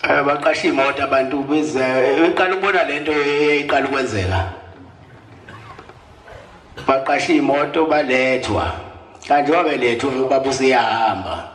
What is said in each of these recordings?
Eh, baqasha imoto abantu bize eh, iqala ukubona lento eyiqala ukwenzeka baqasha imoto balethwa kanti wabelethwa ubaba usiyahamba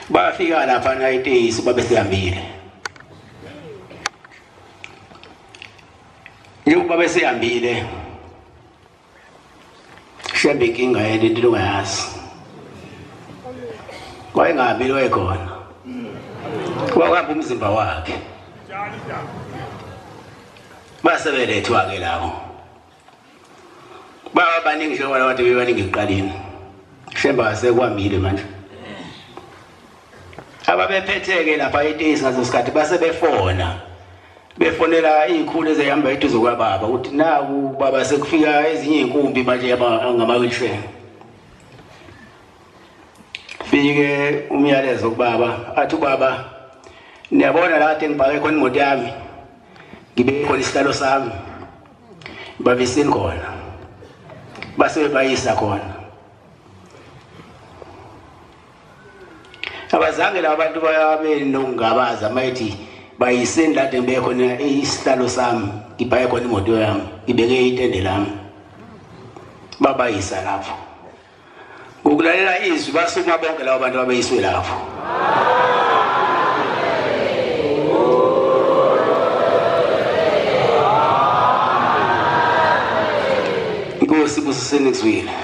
bafika lapha na iteyisi babe sihambile njengoba besihambile Shembe inkinga yena into ongayazi. Wayengabi lo ekhona. Wawuhamba umzimba wakhe. Base belethwa ke labo. Baba baningi njengoba abantu bebaningi ekuqaleni. Shembe asekwamile manje. Ababephethe ke lapha eTesi ngaso sikhathi base befona. befonela iy'khulu ezihamba eduze kwababa ukuthi naku baba sekufika ezinye iy'nkumbi manje ngama-wilshair fike umyalezo kubaba athi ubaba niyabona la kade ngibhake khona imoto yami ngibe khona isihlalo sami babisini khona base bebayisa khona abazange laba bantu babe nokungabaza mayithi bayiseni la de ngibeke khona isihlalo sami ngibhaye khona imoto yami ngibeke itende lami babayisa lapho ngokulalela izwi basukuma bonke labo bantu babeyiswe lapho inkosi busiseni kuzwile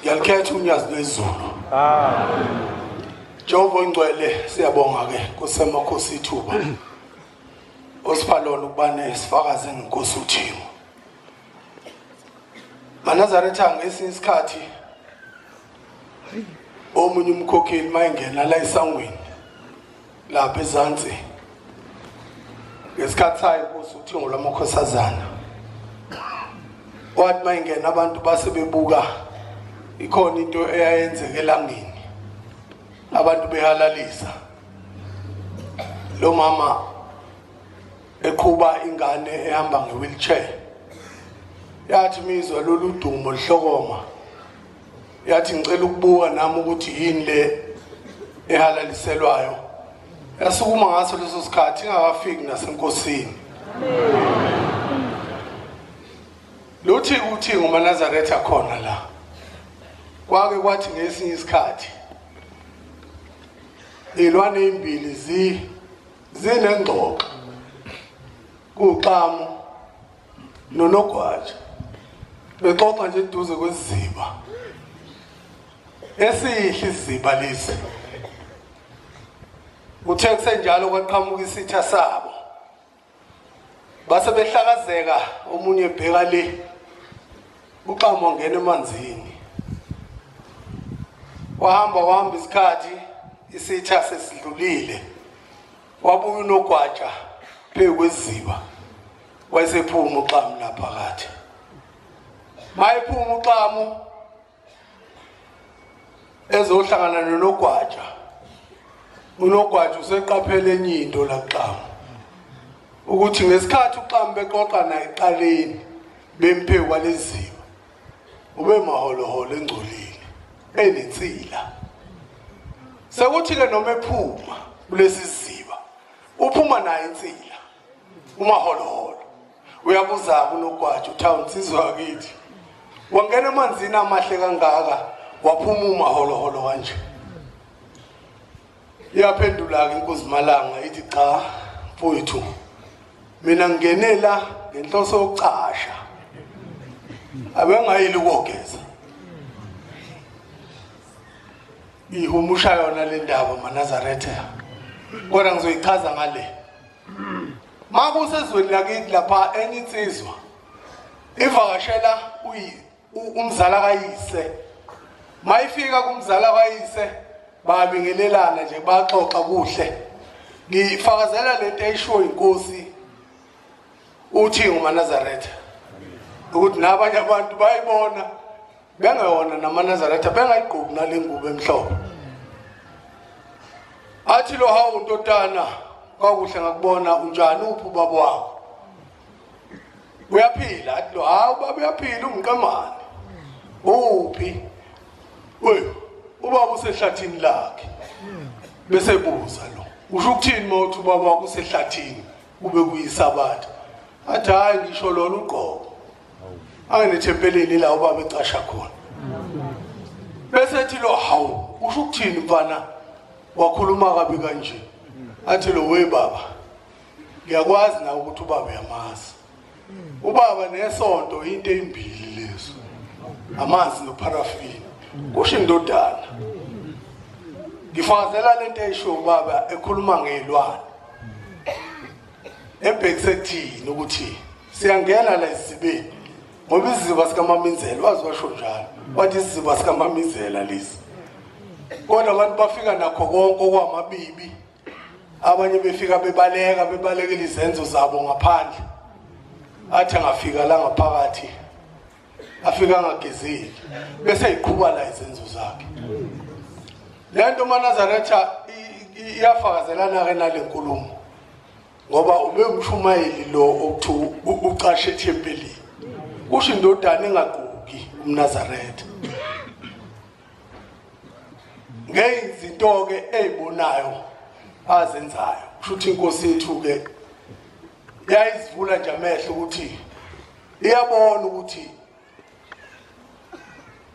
Ngiyakhetha unyazi lwezulu. Amen. Jehova ongcwele siyabonga ke kusemakhosi ithuba. Osipha lona ukuba nesifakazi ngenkosi uThimo. Manazaretha ngesinye isikhathi omunye umkhokheli mayengena la esangweni lapha ezansi ngesikhathi sayo inkosi uthingo lwamakhosazana wathi uma ingena abantu base bebuka ikhona into eyayenzeka elangeni abantu behalalisa lo mama eqhuba ingane ehamba nge-wheelchair yathi mizwa lolu dumo lihlokoma yathi ngicela ukubuka nami ukuthi yini le ehalaliselwayo yasukuma ngaso leso sikhathi ingakafiki nasenkosini luthi kuthi ngumanazaretha khona la kwake kwathi ngesinye isikhathi ilwane ezimbili zi zinengxoxo kuxamu nonogwaja bexoxa nje eduze kwesiziba esihle isiziba lesi uthe kusenjalo kwaqhamuka isitha sabo base behlakazeka omunye ebheka le uxamo ngena emanzini wahamba wahamba isikhathi isitha sesidlulile wabuya unogwaja phezu kweziba wayesephuma uxamu la phakathi mayephuma uxamu ezohlangana nonogwaja unogwaja useqaphele enye into la kuxamu ukuthi ngesikhathi uxamu bexoxa naye eqaleni bemphe kwaleziwa ube maholoholo engcolile enensila sekuthi-ke noma ephuma kulesi siziba uphuma naye insila umaholoholo uyabuza kunogwaja uthawuni sizwa kithi wangena emanzini amahle kangaka waphuma umaholoholo kanje iyaphendula-ke inkuzimalanga ithi cha mfowethu mina ngingenela ngenhloso yokucasha abengayili ukogeza ihumusha yona le ndaba manazaretha kodwa ngizoyichaza ngale makusezweni lakithi lapha enye insizwa ivakashela umzala kayise mayifika kumzala kayise babingelelana nje baxoxa kuhle ngifakazela lento eyishiwo inkosi uthi ngumanazaretha ukuthi nabanye abantu bayibona bengewona namanazaretha bengayigqoki nale ngubo emhlophe athi lo hawu ntotana kwakuhle ngakubona unjani uphi ubaba wakho uyaphila athi lo hawu baba uyaphila ungiqemane uphi we ubaba usehlathini lakhe bese buza lo usho ukuthini mawuthi ubaba wakho usehlathini kube kuyisabatha athi hhayi ngisho lona ugqoko anginethempeleni la ubaba ecasha khona bese ethi lo hawu usho ukuthini mfana wakhuluma kabi kanje athi lo we baba ngiyakwazi na ukuthi ubaba uyamazi ubaba nesonto into ezimbili lezo amanzi noparafini kusho indodana ngifakazela lento eyisho ubaba ekhuluma ngezilwane ebhekise kuthini ukuthi siyangena la isibeni ngoba isiziba sikamamizela wazi washo njalo wathi isiziba sikamamizela lesi kodwa abantu bafika nakho konke okwamabibi abanye befika bebaleka bebalekela izenzo zabo ngaphandle athi angafika la ngaphakathi afika angagezile bese iqhuba la izenzo zakhe le nto umanazaretha iyafakazelana-ke nale nkulumo ngoba ube umshumayeli lo okuthiwa ucashe ethempelini kusho indodana engagquki umnazaretha ngezinto-ke ey'bonayo azenzayo kusho ukuthi inkosi yethu-ke yayizivula nje amehlo ukuthi iyabona ukuthi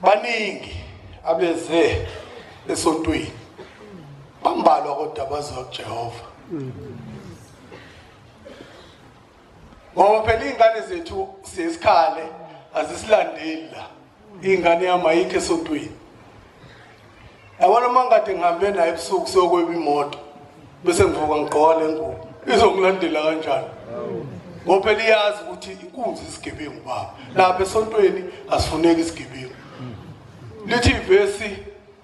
baningi abeze esontweni bambalwa kodwa abaziwa kujehova ngoba phela iy'ngane zethu siyesikhale azisilandeli la iy'ngane yami ayikho esontweni yabona uma ngikade ngihambe naye ebusuku siyokweba imoto bese ngivuka ngigqole ngubo izongilandela kanjani ngoba phela iyazi ukuthi inkunzi isigebengu baba lapha esontweni asifuneki isigebengu lithi ivesi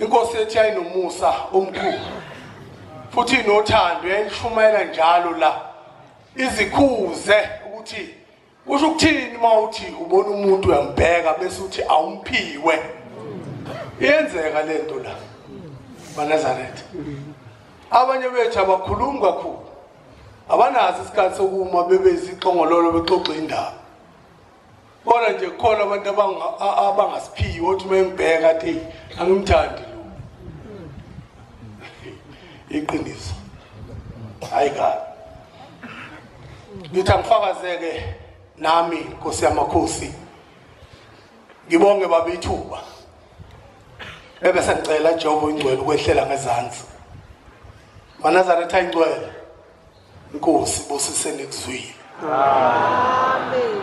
Inkosi yethu yayinomusa omkhulu futhi inothando yayishumayela njalo la izikhuze ukuthi kusho ukuthini uma uthi ubona umuntu uyambheka bese uthi awumphiwe iyenzeka le nto la banazaretha abanye bethu abakhulumi kakhulu abanazi isikhathi sokuma bebe izixongololo bexoxa indaba Bona nje kukhona abantu abangasiphiyi othi uma engibheka athi angimthandi lo. Iqiniso. Hayi kahle. Ngithi angifakazeke nami Nkosi yamakhosi. Ngibonge baba ithuba. Bebe sengicela Jehova ingcwele ukwehlela ngezansi. Manazaretha ingcwele. Nkosi busise nikuzwile. Amen.